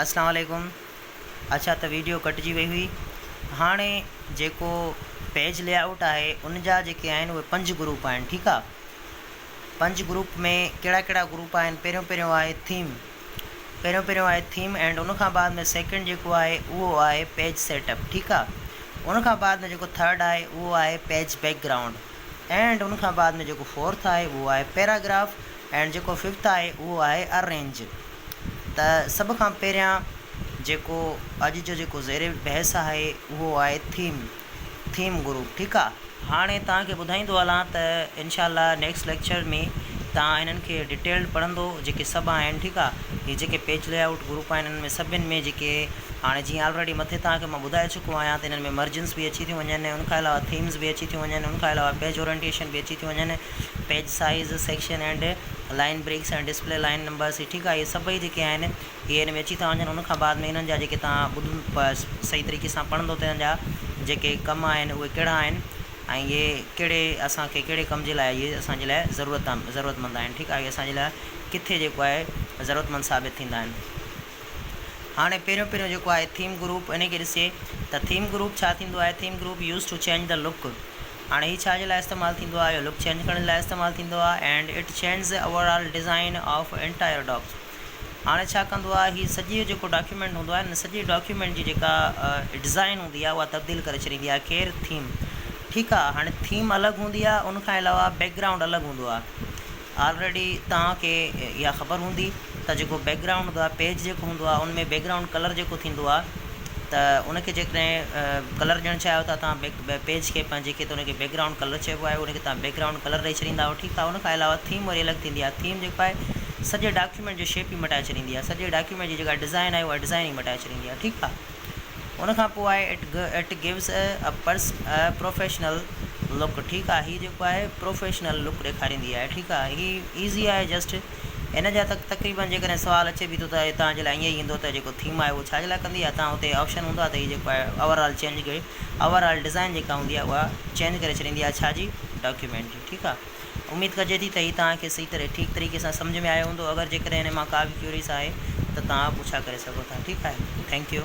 اسلام عليڪم اڇا ته ويڊيو ڪٽجي وئي هئي هاڻي جيڪو پيج لي آئوٽ آهي ان جا جيڪي آهن اهي پنج گروپ آهن ٺيڪ آ پنج گروپ ۾ ڪهڙا ڪهڙا گروپ آهن پهريون پهريون آهي ٿيم پهريون پهريون آهي ٿيم اينڊ ان کان بعد ۾ سيڪنڊ جيڪو آهي اهو آهي پيج سيٽ اپ ٺيڪ آ ان کان بعد ۾ جيڪو ٿرڊ آهي اهو آهي پيج بيڪ گرائونڊ اينڊ ان کان بعد ۾ جيڪو فورٿ آهي اهو آهي پيراگراف اينڊ جيڪو ففٿ آهي اهو آهي ارينج ته سڀ کان پهريان جيڪو اڄ جو جيڪو زير بحث آهي اهو آهي ٿيم ٿيم گروپ ٺيڪ آ. هاڻي توهان کي ٻڌائيندو هلان ته انشاء الله نيڪسٽ ليڪچر ۾ توهان هنن کي ڊيٽيلڊ پڙهندو جيڪي سڀ آهن ٺيڪ آ هي جيڪي پيج لي آئوٽ گروپ آهن انهن ۾ سڀن ۾ جيڪي هاڻي جيئن آلريڊي مٿي توهان کي مان ٻڌائي چڪو آهيان ته انهن ۾ مرجنس به اچي ٿيون وڃن ان کان علاوه ٿيمز به اچي ٿيون وڃن ان کان علاوه پيج اورينٽيشن به اچي ٿيون وڃن page size, section and, line breaks ۽ display line numbers هي ٺيڪ آهي اهي سڀئي جيڪي آهن اهي هن ۾ اچي ٿا وڃن ان کان بعد ۾ انهن جا جيڪي توهان ٻڌن صحيح طريقي سان پڙهندو ته انهن جا جيڪي ڪم آهن اهي ڪهڙا آهن ۽ اهي ڪهڙي اسان کي ڪهڙي ڪم جي لاء اهي اسان جي لاء ضرورت ضرورت مند آهن ٺيڪ آهي اهي اسان جي لاء ڪٿي جيڪو آهي ضرورت مند ثابت ٿيندا آهن. هاڻي پهريون پهريون جيڪو آهي ٿيم گروپ انهي کي ڏسجي ته ٿيم گروپ ڇا ٿيندو آهي theme group use to change the look هاڻي هي ڇا جي لاء استعمال ٿيندو آهي اهو لڪ چينج ڪرڻ جي لاء استعمال ٿيندو آهي and it changes overall design of entire docs هاڻي ڇا ڪندو آهي هي سڄي جيڪو ڊاڪيومينٽ هوندو آهي سڄي ڊاڪيومينٽ جي جيڪا ڊزائين هوندي آهي اها تبديل ڪري ڇڏيندي آهي ڪير ٿيم ٺيڪ آهي هاڻي ٿيم الڳ هوندي آهي ان کان علاوه بيڪ گرائونڊ الڳ هوندو آهي آلريڊي توهان کي اها خبر هوندي ته جيڪو بيڪ گرائونڊ هوندو آهي پيج جيڪو هوندو آهي ان ۾ بيڪ گرائونڊ ڪلر جيڪو ٿيندو آهي ته ان کي جيڪڏهن ڪلر ڏيڻ چاهيو ٿا توهان بيڪ پيج کي پنهنجي کي ته ان کي بيڪ گرائونڊ ڪلر چئبو آهي ان کي توهان بيڪ گرائونڊ ڪلر ڏئي ڇڏيندا آهيو ٺيڪ آهي ان کان علاوه ٿيم وري الڳ ٿيندي آهي ٿيم جيڪو آهي سڄي ڊاڪيومينٽ جو شيپ ئي مٽائي ڇڏيندي آهي سڄي ڊاڪيومينٽ جي جيڪا ڊزائن آهي اها ڊزائن ئي مٽائي ڇڏيندي آهي ٺيڪ آهي ان کان پوء آء it gives a purse a professional look ٺيڪ آ هي جيڪو آهي پروفيشنل لڪ ڏيکاريندي آهي ٺيڪ آ هي ايزي آهي جسٽ هن جا ته تقريبن جيڪڏهن سوال اچي به ٿو ته هتان جي لاء ائين ئي ايندو ته جيڪو ٿيم آهي اهو ڇا جي لاء ڪندي آهي تان هتي آپشن هوندو آهي ته هي جيڪو آهي اوور آل چينج ڪري اوور آل ڊزائن جيڪا هوندي آهي اها چينج ڪري ڇڏيندي آهي ڇا جي ڊاڪيومينٽ جي ٺيڪ آ اميد ڪجي ٿي ته هي توهان کي صحيح طرح ٺيڪ طريقي سان سمجهه ۾ آيو هوندو اگر جيڪڏهن هن مان ڪا به ڪيوريس آهي ته توهان پڇا ڪري سگهو ٿا ٺيڪ آهي ٿينڪ يو.